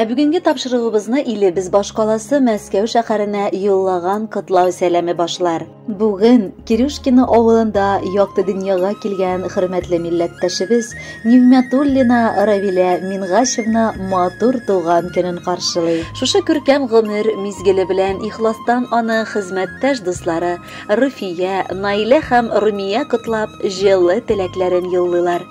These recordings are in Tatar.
Ә бүгенге тапшыруыбызны илебез башкаласы Мәскәү шәһәренә юллаган котлау сәламе башлар. Бүген Кирюшкино авылында якты дөньяга килгән хөрмәтле милләттәшебез Нигъмәтуллина Равилә Мингашевна матур туган көнен каршылый. Шушы күркәм гомер мизгеле белән ихластан аны хезмәттәш дуслары, Руфия, Наилә һәм Румия котлап, җылы теләкләрен юллыйлар.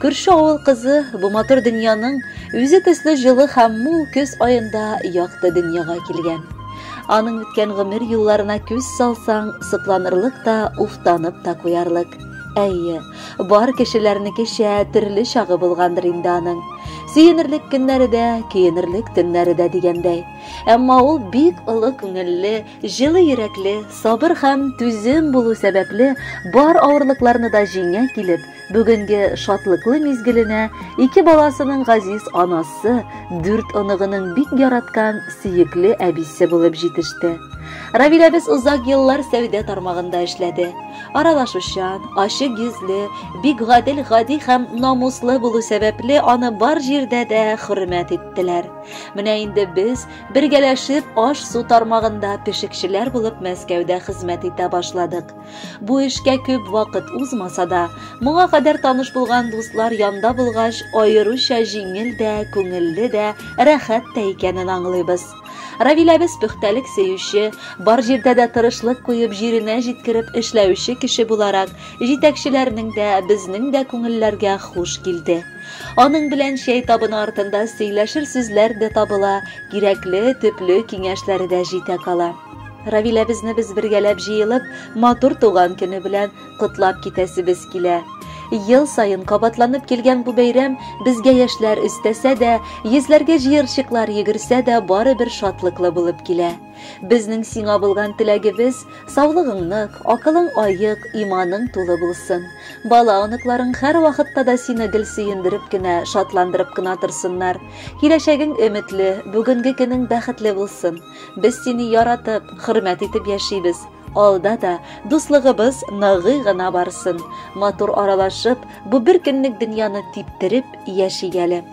Күрше авыл кызы бу матур дөньяның үзе төсле җылы һәм мул көз аенда якты дөньяга килгән. Аның үткән гомер юлларына күз салсаң, сокланырлык та, уфтанып та куярлык. Әйе, бар кешеләрнекечә төрле чагы булгандыр инде аның. Сөенерлек көннәре дә, көенерлек төннәре дә дигәндәй. Әмма ул бик олы күңелле, Җылы йөрәкле, сабыр һәм түзем булу сәбәпле, бар авырлыкларны да җиңә килеп, бүгенге шатлыклы мизгеленә ике баласының газиз анасы, дүрт оныгының бик яраткан сөекле әбисе булып җитеште. Равил әбез озак еллар сәүдә тармагында эшләде. Аралашучан, ачык йөзле, бик гадел, гади һәм намуслы булу сәбәпле, аны бар җирдә дә хөрмәт иттеләр. Менә инде без Бергәләшеп аш-су тармагында пешекчеләр булып Мәскәүдә хезмәт итә башладык. Бу эшкә күп вакыт узмаса да, моңа кадәр таныш булган дуслар янда булгач, аеруча җиңел дә, күңелле дә, рәхәт тә икәнен аңлыйбыз. Равиләбез пөхтәлек сөюче, бар җирдә дә тырышлык куеп җиренә җиткереп эшләүче кеше буларак, җитәкчеләрнең дә, безнең дә күңелләргә хуш килде. Аның белән чәй табыны артында сөйләшер сүзләр дә табыла, кирәкле, төпле киңәшләре дә җитә кала. Равиләбезне без бергәләп җыелып, матур туган көне белән котлап китәсебез килә. Ел саен кабатланып килгән бу бәйрәм безгә яшьләр өстәсә дә, йөзләргә җыерчыклар йөгерсә дә, барыбер шатлыклы булып килә. Безнең сиңа булган теләгебез, саулыгың нык, акылың аек, иманың тулы булсын. Бала оныкларың һәр вакытта да сине гел сөендереп кенә, шатландырып кына торсыннар. Киләчәгең өметле, бүгенге көнең бәхетле булсын. Без сине яратып, хөрмәт итеп яшибез. Алда да дуслыгыбыз ныгый гына барсын. Матур аралашып, бу бер көнлек дөньяны типтереп яшик әле.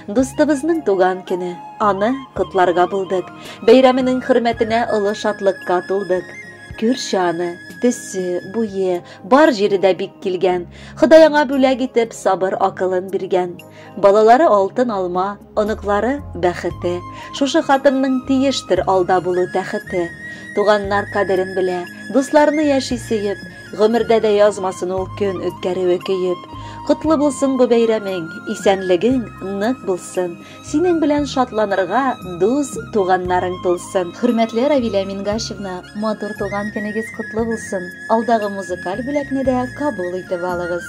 Дустыбызның туган көне, аны котларга булдык. Бәйрәменең хөрмәтенә олы шатлыкка тулдык. Күрше аны, төсе, буе, бар җире дә бик килгән. Ходай аңа бүләк итеп сабыр акылын биргән. Балалары алтын алма, оныклары бәхете. Шушы хатынның тиештер алда булу тәхете. Туганнар кадерен белә, дусларны яши сөеп, Гомердә дә язмасын ул көн үткәрүе көеп. Котлы булсын бу бәйрәмең, исәнлегең нык булсын. Синең белән шатланырга дус туганнарың тулсын. Хөрмәтле Равилә Мингашевна, матур туган көнегез котлы булсын. Алдагы музыкаль бүләкне дә кабул итеп алыгыз.